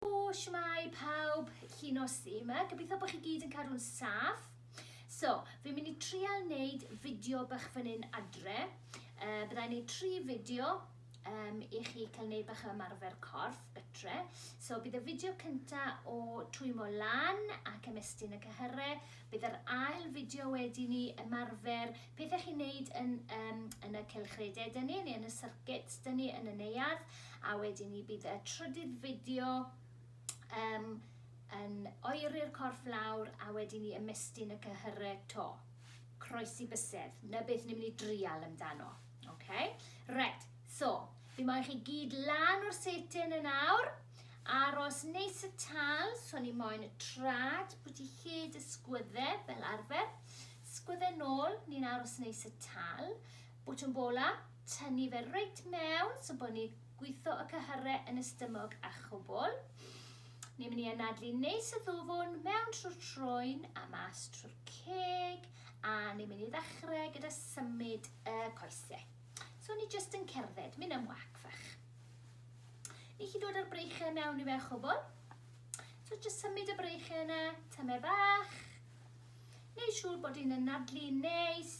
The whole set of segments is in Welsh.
O shwmae pawb, llun o si yma, gobeithio bod chi gyd yn cadw'n saff. So, fi'n mynd i trial wneud fideo bach fan hyn adre. Uh, byddai'n gwneud tri fideo um, i chi cael gwneud bach o ymarfer corff gytre. So, bydd y fideo cynta o twymo lan ac ymestyn y cyhyrau. Bydd yr ail fideo wedi ni ymarfer pethau chi'n wneud yn, um, yn y cylchredau dyn ni, neu yn y circuits dyn ni yn y neuadd. a wedyn ni bydd y trydydd fideo um, yn oeri'r corff lawr a wedyn ni ymestyn y cyhyrau to. Croesi bysedd, na beth ni'n mynd i drial amdano. Okay? Right, so, fi moyn chi gyd lan o'r setin yn awr, aros neis y tal, so ni moyn y trad, pwy ti hyd y sgwydde fel arfer, sgwydde nôl, ni'n aros neis y tal, Botwm bola, tynnu fe reit mewn, so bod ni gwitho y cyhyrre yn y stymog a chwbl. Ni'n mynd i anadlu neis y ddwfwn mewn trwy'r troen a mas trwy'r ceg a ni'n mynd i ddechrau gyda symud y coesau. So ni jyst yn cerdded, mynd am wac fach. Ni chi dod â'r breichau mewn i fe chwbl. So jyst symud y breichau yna, tymer bach. Neu siŵr bod ni'n anadlu neis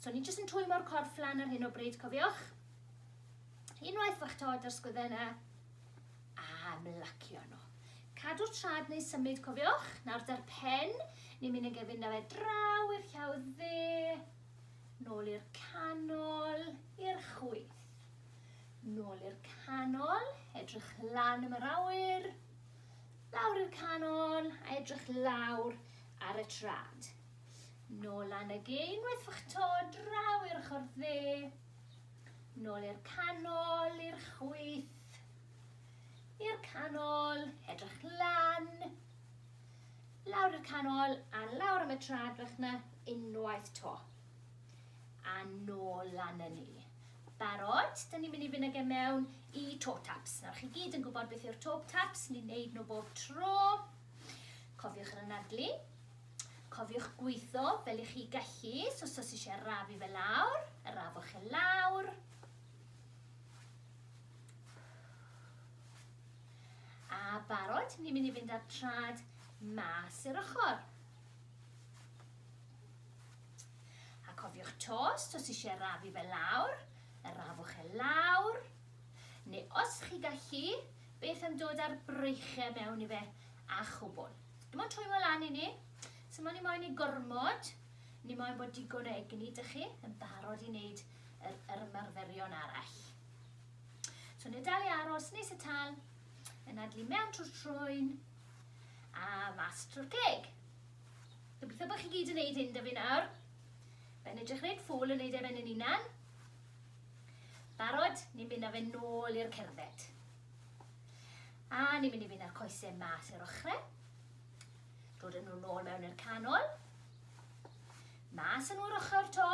So ni jyst yn twymo'r corff lan ar hyn o bryd, cofiwch. Unwaith fach tod ar sgwyddenna, a mlacio nhw. Cadw'r trad neu symud, cofiwch. Nawr da'r pen, ni'n mynd yn gefyn na fe draw i'r llaw dde, nôl i'r canol, i'r chwyth. Nôl i'r canol, edrych lan am yr awyr, lawr i'r canol, a edrych lawr ar y trad. Nôl lan y gêm wrthych to draw i'r ochr dde. Nôl i'r canol, i'r chwith. I'r canol, edrych lan. Lawr i'r canol a lawr am y tra drach na unwaith to. A nôl lan y ni. Barod, dyn ni'n mynd i fynd ag e mewn i toe taps. Nawr chi gyd yn gwybod beth yw'r toe taps, ni'n neud nhw bob tro. Cofiwch yr anadlu. Cofiwch gwitho fel i chi gallu, so os oes eisiau rafu fe lawr, y rafwch e lawr. A barod, ni'n mynd i fynd â'r trad mas i'r ochr. A cofiwch tost, os eisiau rafu fe lawr, y rafwch e lawr. Neu os chi gallu, beth am dod â'r breichiau mewn i fe a chwbl. Dim ond twymo lan i ni. Simo ni moyn i gormod. Ni moyn bod digon o egni dych chi yn barod i wneud yr, yr ymarferion arall. So ni dal i aros nes y tal, yn adlu mewn trwy'r trwyn a mas trwy'r ceg. Gobeithio bod chi gyd yn neud hyn da fi nawr. Fe'n edrych reit ffwl yn neud efen yn unan. Barod, ni'n mynd â fe nôl i'r cerdded. A ni'n mynd i fynd â'r coesau mas i'r ochrau. Dod yn nhw nôl mewn i'r canol. Mas yn nhw'r ochr to.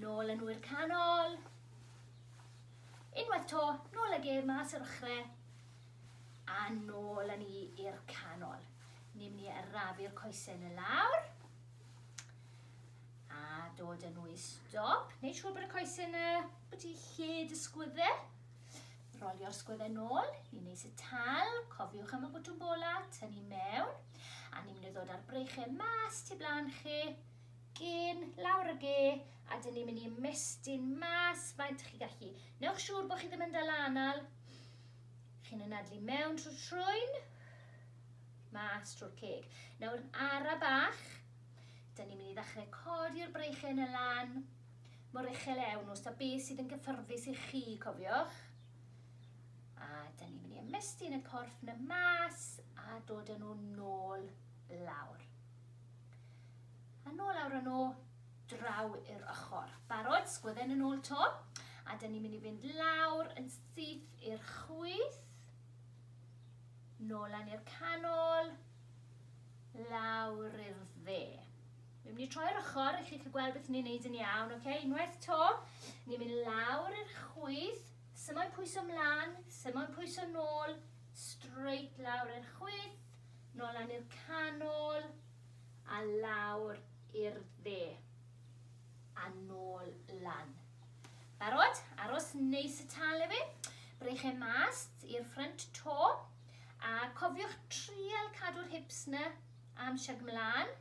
Nôl yn nhw'r canol. Unwaith to, nôl ag e mas i'r ochrau. A nôl yn ni i'r canol. Ni'n mynd i arafu'r coesau yn y lawr dod yn wy stop. Neu siŵr bod y coesyn y Ydy lle dy sgwydde. Rolio'r sgwydde nôl i neis y tal. Cofiwch am y bwtwm bola, tynnu mewn. A ni'n mynd i ddod â'r breichau mas tu blaen chi. Gyn, lawr y ge, a dyn ni'n mynd i ymestyn mas faint chi gallu. Newch siŵr bod chi ddim yn dal anal. Chi'n ynadlu mewn trwy trwyn mas trwy'r ceg. Nawr yn ara bach, dyn ni'n mynd i ddechrau codi'r breichau yn y lan, mor uchel iawn, os da beth sydd yn gyffyrddus i chi, cofiwch. A da ni'n mynd i ymestyn y corff na mas a dod yn nhw nôl lawr. A nôl lawr yn nhw, draw i'r ochr. Barod, sgwydden yn ôl to. A da ni'n mynd i fynd lawr yn syth i'r chwyth. Nôl lan i'r canol. Lawr i'r dde. Ni'n mynd i troi ar ochr i chi chi gweld beth ni'n neud yn iawn, oce? Okay? Unwaith to, ni'n mynd lawr i'r chwyth, symo'n pwyso mlaen, symo'n pwyso nôl, straight lawr i'r chwyth, nôl lan i'r canol, a lawr i'r dde, a nôl lan. Barod? Aros neis y tal efe. Breich e mas i'r ffrynt to. A cofiwch trial cadw'r hips na am siag mlaen.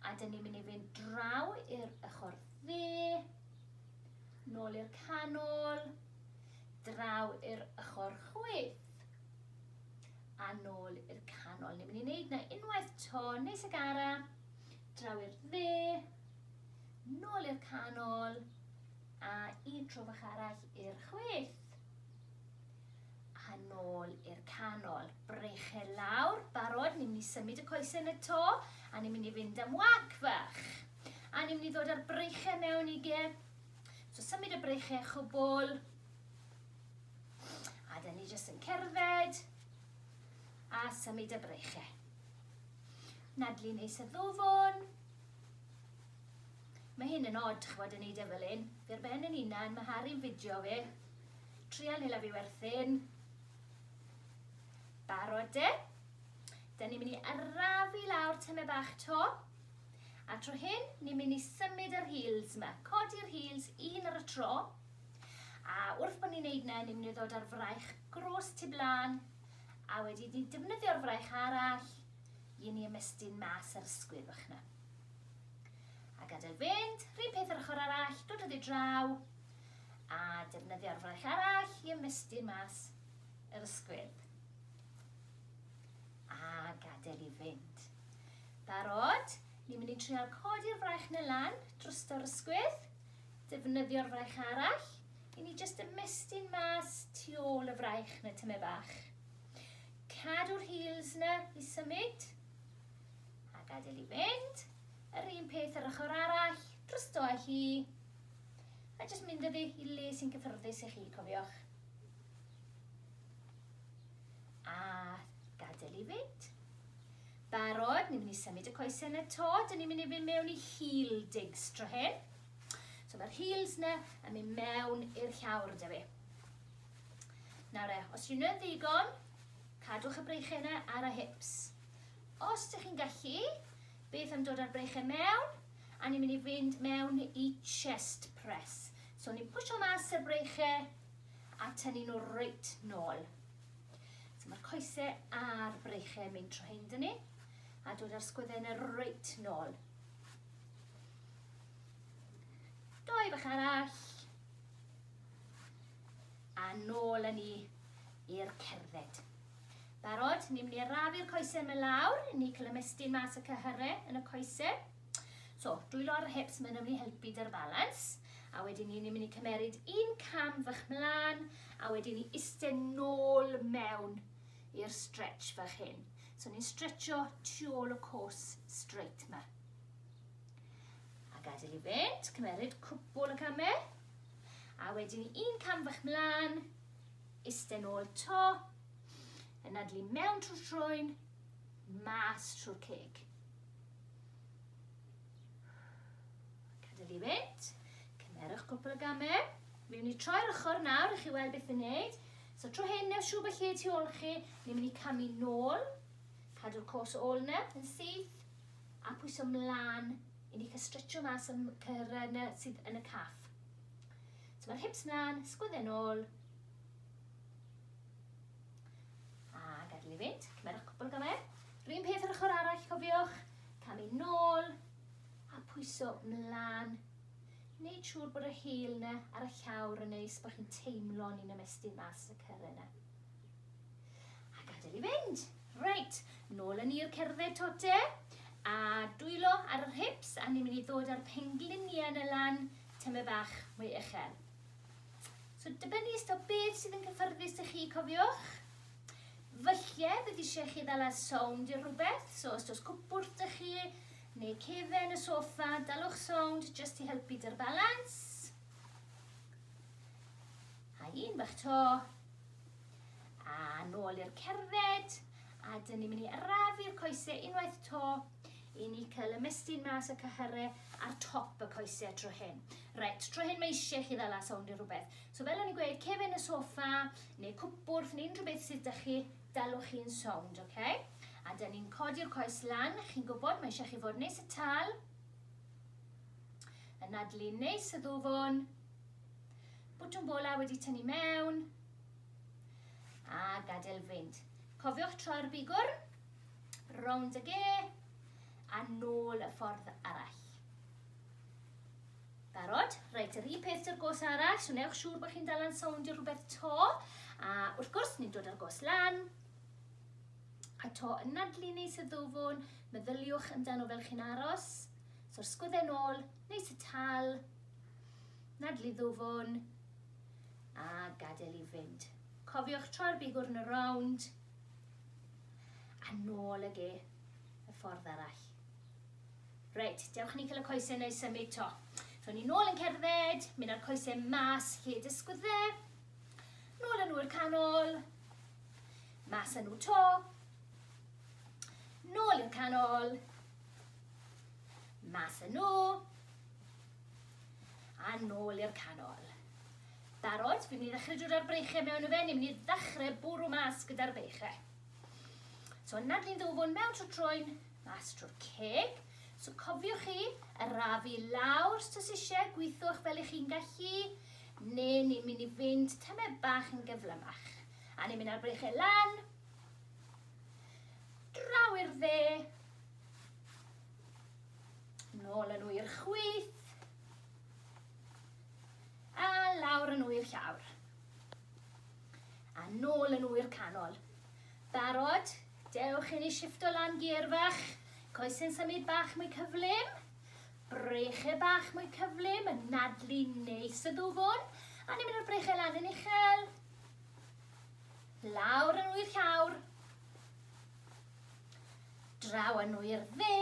A dyn ni'n mynd i fynd draw i'r ochr dde, nôl i'r canol, draw i'r ochr chwith, a nôl i'r canol. Ni'n mynd i wneud na unwaith to, nes y gara, draw i'r dde, nôl i'r canol, a un tro fach arall i'r chwith. a nôl i'r canol. Breche lawr, barod, ni'n mynd i symud y coesau yn y to, a ni'n mynd i fynd am wac fach. A ni'n mynd i ddod â'r breiche mewn i ge. So symud y breiche chwbl. A da ni jyst yn cerdded, a symud y breiche. Nadlu neis y ddwfwn. Mae hyn yn od, chwbod, yn neud e fel un. Fe'r ben yn unan, mae Harry'n fideo fe. Trial neu lafu werthin. Barod de? Da ni'n mynd i arafu lawr tyme bach to. A tro hyn, ni'n mynd i symud yr heels yma. Codi'r heels un ar y tro. A wrth bod ni'n neud na, ni'n mynd i ddod ar fraich gros tu blaen. A wedi ni defnyddio'r fraich arall, i ni ymestyn mas yr ysgwydd o'ch na. A gadael fynd, rhywun peth yr ochr arall, dod o ddi draw, a defnyddio'r fraich arall i ymestyn mas yr ysgwydd. A gadael i fynd. Barod? Ni'n mynd i trial codi'r fraich na lan drosto'r ysgwydd, defnyddio'r fraich arall i ni jyst ymestyn mas tu ôl y fraich na tyme bach. Cadw'r heels na i symud a gadael i fynd. Yr un peth yr ochr arall, drosto hi A jyst mynd â fi i le sy'n gyffyrddus i chi, cofiwch. A gadael i fynd. Barod, ni'n mynd i symud y coesau yna to, dyn ni'n mynd i fynd mewn i heel digs tro hyn. So mae'r heels yna yn mynd mewn i'r llawr da fi. Nawr e, os rwy'n yn ddigon, cadwch y breichau yna ar y hips. Os ydych chi'n gallu, beth am dod â'r breichau mewn? a ni'n mynd i fynd mewn i chest press. So ni'n pwysio mas y breiche a tynnu nhw reit nôl. So mae'r coesau a'r breiche yn mynd trwy hyn dyn ni a dod â'r sgwydden y reit nôl. Doi bach arall. A nôl yn ni i'r cerdded. Barod? Ni'n mynd i arafu'r coesau yma lawr, ni cael ymestyn mas y cyhyrau yn y coesau. So, dwylo ar y hips, mae'n mynd i helpu dy'r balans. A wedyn ni, ni'n mynd i cymeryd un cam fach mlaen, a wedyn ni iste nôl mewn i'r stretch fach hyn. So ni'n stretcho tu ôl y cwrs straight ma. A gadael i fynd, cymeryd cwbl y camau. A wedyn ni un cam fach mlaen, Iste nôl 'to. Yn nadlu mewn trwy'r troen, mas trwy'r ceg. Cadael i fynd. Cymerwch cwpl o gamau. Miwn ni troi'r ochr nawr i chi weld beth yn neud. So tro hyn, neu siw beth lle tu ôl chi, ni'n mynd i camu nôl, cadw'r cos ôl na, yn syth, a pwyso mlaen i ni cael stretcho mas am cyrra yna sydd yn y caff. Tymor hips mlan, sgwydde nôl. A gadael i fynd, cymerwch cwpl gamau. Rhyn peth yr ochr arall, cofiwch. Camu nôl, a pwyso mlan. Neud siŵr bod y hil yna ar y llawr yn neis, bod chi'n teimlo ni'n ymestyn mas y cyrra yna. A gadael i fynd. Reit, nôl yn i'r cerdded tote, a dwylo ar yr hips, a ni'n mynd i ddod â'r pengliniau yn y lan, tymed bach mwy uchel. So dibynnu ystod o beth sydd yn cyffyrddus i chi, cofiwch. Fyllie, bydd eisiau chi ddala'r sound i rhywbeth, so os oes cwpwrdd dych chi, neu cefen y sofa, dalwch sound jyst i helpu dy'r balans. A un bach to. A nôl i'r cerdded. A dyn ni'n mynd i arafu'r coesau unwaith to. I ni cyl y mistyn mas y cyhyre ar top y coese tro hyn. Reit, tro hyn mae eisiau chi ddala sownd i rhywbeth. So fel o'n i'n gweud, cefen y sofa, neu cwpwrth, neu unrhyw beth sydd da chi, dalwch chi'n sownd, oce? Okay? A da ni'n codi'r coes lan, chi'n gwybod, mae eisiau chi fod neis y tal, yn adlu neis y ddwfwn, bwtwm bola wedi tynnu mewn, a gadael fynd. Cofiwch troi'r bigwrn. Rownd y ge, a nôl y ffordd arall. Barod? Reit, yr un peth dy'r gos arall, so newch siŵr bod chi'n dal yn sowndio rhywbeth to. A wrth gwrs, ni'n dod â'r gos lan. A to yn nadlu neis y ddwfwn, meddyliwch amdano fel chi'n aros. So'r sgwydden ôl, neis y tal, nadlu ddwfwn, a gadael i fynd. Cofiwch troi'r bigwrn y rownd, A nôl ag e y ffordd arall. Reit, dewch ni cael y coesau neu symud to. So ni nôl yn cerdded, mynd â'r coesau mas lle dysgwyd fe. Nôl â nhw i'r canol. Mas â nhw to. Nôl i'r canol. Mas â nhw. A nôl i'r canol. Barod? Fi'n mynd i ddechrau dod â'r breichiau mewn y fen, ni'n mynd i ddechrau bwrw mas gyda'r beichiau. So yna dyn ddwfwn mewn trwy troen, mas trwy'r ceg. So cofiwch chi, arafu lawr os tys eisiau, gweithwch fel i chi'n gallu, neu ni'n mynd i fynd tyme bach yn gyflymach. A ni'n mynd ar breichau lan, draw i'r dde, nôl yn nhw i'r chwyth, A lawr yn ŵyr llawr. A nôl yn ŵyr canol. Barod? Dewch i ni shifto lan gear fach. Coesyn symud bach mwy cyflym. Breche bach mwy cyflym, yn nadlu neis y ddwfwn. A ni'n mynd o'r breche lan yn uchel. Lawr yn ŵyr llawr. Draw yn ŵyr dde.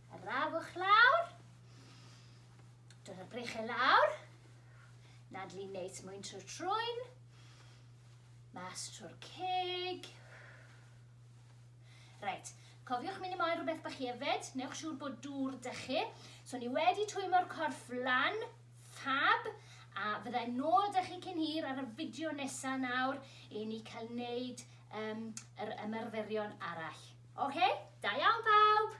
Y rafwch lawr. Dod y brechau lawr. Nadlu neis mwyn trwy'r trwyn. Mas trwy'r ceg. Reit, cofiwch mynd i moyn rhywbeth bach hefyd. Newch siŵr bod dŵr dy chi. So ni wedi twymo'r corff lan, fab, a fyddai nôl ydych chi cyn hir ar y fideo nesaf nawr i ni cael wneud um, yr ymarferion arall. Oce? Okay? Da iawn bawb!